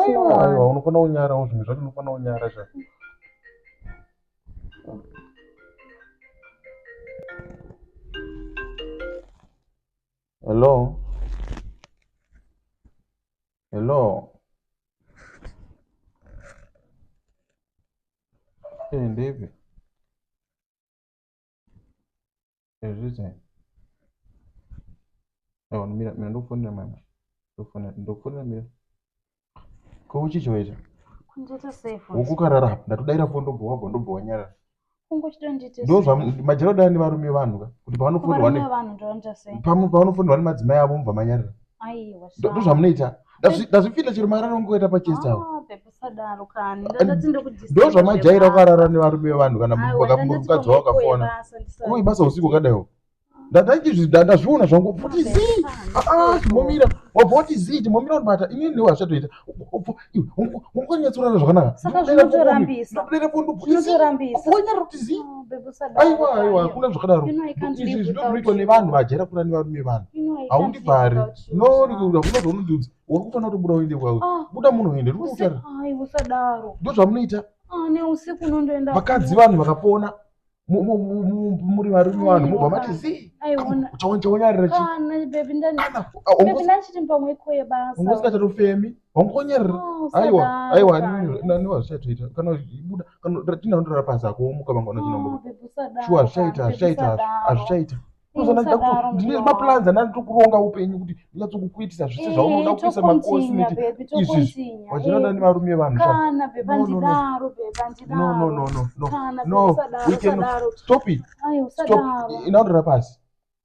aiwa unofanira kunyarawo zvinhu zvacho unofanira kunyara zva hello hello eh, ndeipi ezviti awa mira mira ndokufonera mama ndokufonera ndokufonera mira ko uchichi waita ukukarara ndatodaira fo ndobhowa bho ndobhowa nyarara ndozvamajero dani varume vanhu ka kuti pavanofonirwa pamwe pavanofonirwa nemadzimai avo mubva manyarara ndozvamunoita ndazvipinda chero mararo ngoita pachest awo ndo zvamajaira ukarara nevarume vevanhu kana mukadzi wao kafona koma ibasa usiku kadaiwo ndazviona zvangu poti zii ah, ah, chimomira wabva woti zii chimomira unobata inini ndiwo hazvatoita wakanyatsorara zvakanakaaiwa aiwa hakuna zvakadaro izvi zvinoitwa nevanhu vajera kura nevarume vanhu haundivhari nounogona zvaunondiudza uri kufanira kutobuda uende kwawe ah. buda munhu uende uri kutaura ndozvamunoita ah, vakadzi vanhu vakapona muri varume vanhu mobva mati ziiaungasikachatofemi wangonyarira aiwa aiwa aniwa zvichatoita kana ibuda kana ratinandorara pasi akomuka vanga vanachinombo shuwa zvichaita zvichaita hazvichaita ndine maplans andani tiri kuronga upenyu kuti ndinyatso kukuitisa zvese eh, zvaunoda kukuisa makosi neti izvizvi wachinoda eh, nevarume vanhu stop it stop inaondera pasi